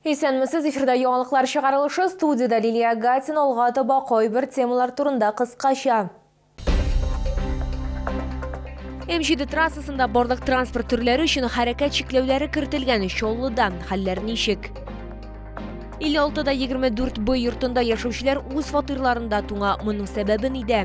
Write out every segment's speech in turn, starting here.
Исәнмесез, эфирда яңалыклар чыгарылышы, студиядә Лилия Агатина, алга таба кайбер темалар турында кыскача. М7 трассасында барлык транспорт төрләре өчен хәрәкәт чикләүләре кертелгән Чаллыда хәлләр ничек? 56-да 24 Б йортында яшәүчеләр үз фатирларында туңа. Моның сәбәбе нидә?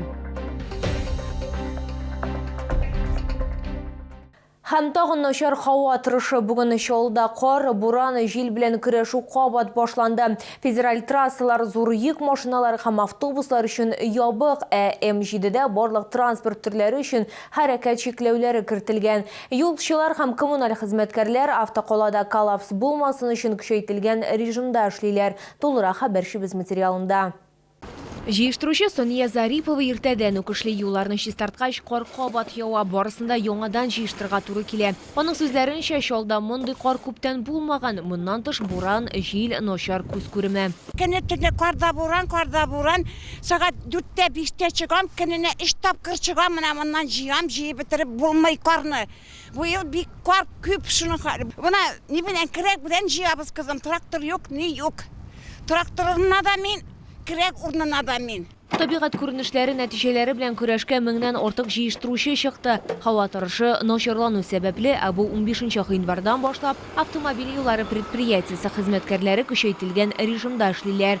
Һәм тагын начар һава торышы. Бүген Чаллыда кар, буран, җил белән көрәшү кабат башланды. Федераль трассалар зур йөк машиналары һәм автобуслар өчен ябык, ә М7дә барлык транспорт төрләре өчен хәрәкәт чикләүләре кертелгән. Юлчылар һәм коммуналь хезмәткәрләр автокалада коллапс булмасын өчен көчәйтелгән режимда эшлиләр, тулырак хәбәрчебез материалында. Җыештыручы Сания Зарипова иртәдән үк эшли. Юлларны чистарткач, кар кабат ява, барысын да яңадан җыештырырга туры килә. Аның сүзләренчә, Чаллда мондый кар күптән булмаган. Моннан тыш, буран, җил, начар күз күреме. Көнне төне кар да буран, кар да буран. Сәгать дүрттә, биштә чыгам, көненә өч тапкыр чыгам, менә моннан җыям, җыеп бетереп булмый карны. Бу ел бик кар күп, шуның хәл. Менә ни белән кирәк белән җыябыз, кызым. Трактор юк, ни юк. Тракторына да мин, кирәк урынына да мин. Табигать күренешләре нәтиҗәләре белән көрәшкә меңнән артык җыештыручы чыкты. Һава торышы начарлану сәбәпле, ә бу унбишенче гыйнвардан башлап, автомобиль юллары предприятиесе хезмәткәрләре көчәйтелгән режимда эшлиләр.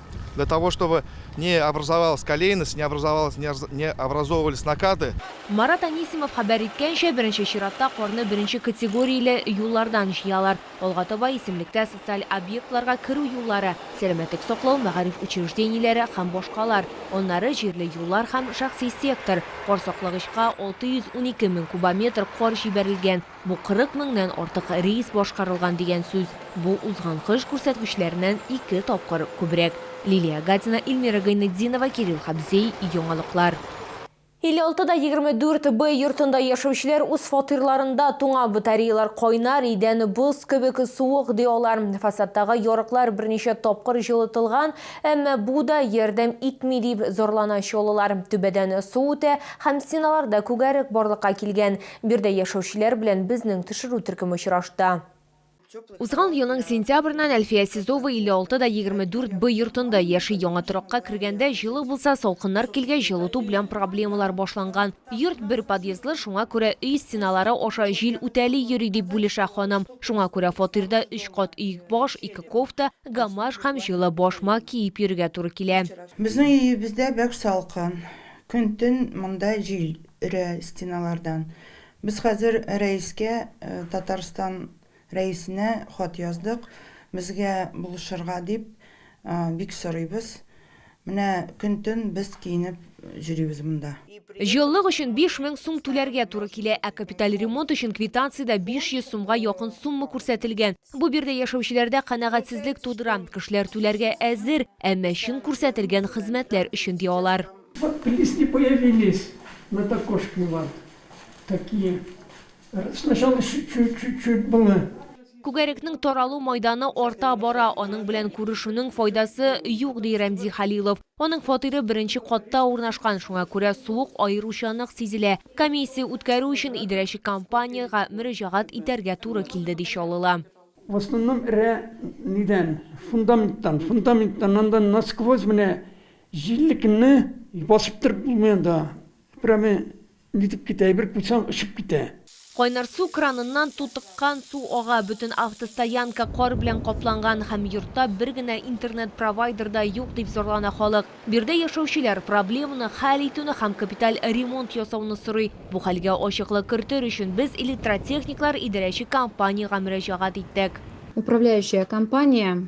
Для того, чтобы не образовалась колейность, не образовалась, не образовывались накаты. Марат Анисимов хәбәр иткәнчә, беренче чиратта карны беренче категорияле юллардан җыялар. Алга таба исемлектә социаль объектларга керү юллары, сәламәтлек саклау, мәгариф учреждениеләре һәм башкалар, аннары җирле юллар һәм шәхси сектор. Кар саклагычка 612 мең кубометр кар җибәрелгән. Бу 40 меңнән артык рейс башкарылган дигән сүз. Бу узган кыш күрсәткечләреннән ике тапкыр күбрәк. Лилия Агатина, Ильмира Гайнетдинова, Кирилл Хабзей, Яңалыклар. 56 да 24 Б йортында яшәүчеләр үз фатирларында туңа, батареялар кайнар, идән боз кебек суык, ди алар. Фасадтагы ярыклар берничә тапкыр җылытылган, әмма бу да ярдәм итми, дип зарлана чаллылар. Түбәдән су үтә һәм стеналарда күгәрек барлыкка килгән. Биредә яшәүчеләр белән безнең төшерү төркеме очрашты. Узган елның сентябреннән Әлфия Сизова 56 да 24 Б йортында яши. Яңа торакка кергәндә җылы булса, салкыннар килгәч, җылыту белән проблемалар башланган. Йорт бер подъездлы, шуңа күрә өй стеналары аша җил үтәли йөри, дип бүлешә ханым. Шуңа күрә фатирда өч кат өекбаш, ике кофта, гамаш һәм җылы башмак киеп йөрергә туры килә. Безнең өебездә бәк салкын. Көн-төн монда җил. өрә стеналардан. Без хәзер рәискә, Татарстан рәисенә хат яздык, безгә булышырга дип, бик сорыйбыз. Менә көн-төн без киенеп йөрибез монда. Җылылык өчен биш мең сум түләргә туры килә, ә капиталь ремонт өчен квитанциядә 500 сумга якын сумма күрсәтелгән. Бу биредә яшәүчеләрдә канәгатьсезлек тудыра, кешеләр түләргә әзер, әмма чын күрсәтелгән хезмәтләр өчен, ди алар. Вот плиз не появились над окошками вот такие сначала чуть чуть чуть чуть было Күгәрекнең таралу майданы арта бара, аның белән күрешүнең файдасы юк, ди Рәмзи Халилов. Аның фатиры беренче катта урнашкан, шуңа күрә суык аеруча нык сизелә. Комиссия үткәрү өчен идарәче компаниягә мөрәҗәгать итәргә туры килде, ди Чаллыла. В основном эрә нидән, фундаменттан, фундаменттан анда насквозь менә Җилле көнне басып торып булмый анда. Прямо нитеп китә, әйбер куйсаң, очып китә. Кайнар су краныннан тутыккан су ага, бөтен автостоянка кар белән капланган һәм йортта бер генә интернет-провайдер да юк, дип зарлана халык. Биредә яшәүчеләр проблеманы хәл итүне һәм капиталь ремонт ясауны сорый. Бу хәлгә ачыклык кертер өчен без электротехниклар идарәче компаниягә мөрәҗәгать иттек. Управляющая компания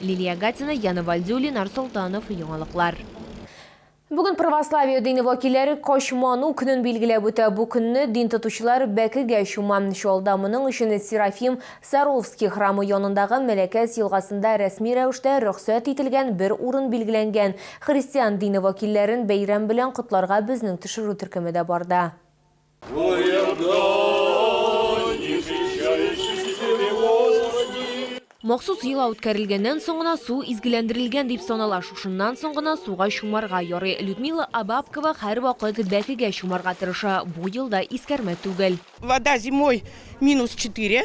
Лилия Гатина, Яна Валдиуллин, Арсолтанов, Яңалыклар. Бүген православие дине вәкилләре Качману көнен билгеләп үтә. Бу көнне дин тотучылар бәкегә чума. Чаллыда моның өчен Серафим Саровский храмы янындагы Мәләкәс елгасында рәсми рәвештә рөхсәт ителгән бер урын билгеләнгән. Христиан дине вәкилләрен бәйрәм белән котларга безнең төшерү төркеме дә барды. Махсус йола үткәрелгәннән соң гына су изгеләндерелгән дип санала. Шушыннан соң гына суга чумарга ярый. Людмила Абабкова һәрвакыт бәкегә чумарга тырыша. Бу елда искәрмә түгел. Вода зимой минус 4.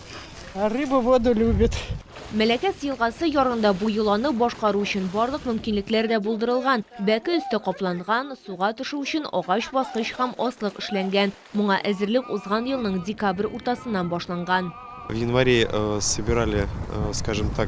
Рыба воду любит. Мәләкәс елгасы ярында бу йоланы башкару өчен барлык мөмкинлекләр дә булдырылган. Бәке өсте капланган, суга төшү өчен агач баскыч һәм аслык эшләнгән. Моңа әзерлек узган елның декабрь уртасыннан башланган. В январе собирали, скажем так,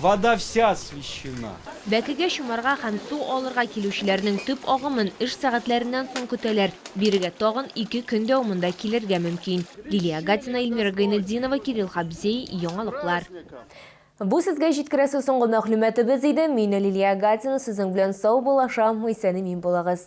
Вода вся освещена. Бәкегә чумарга һәм су алырга килүчеләрнең төп агымын эш сәгатьләреннән соң көтәләр. Бирегә тагын ике көн дәвамында килергә мөмкин. Лилия Гатина, Ильмира Гайнетдинова, Кирилл Хабзей, Яңалыклар. Бу сезгә җиткерәсе соңгы мәгълүматыбыз иде. Мин Лилия Гатина сезнең белән саубуллашам, исән-имин булыгыз.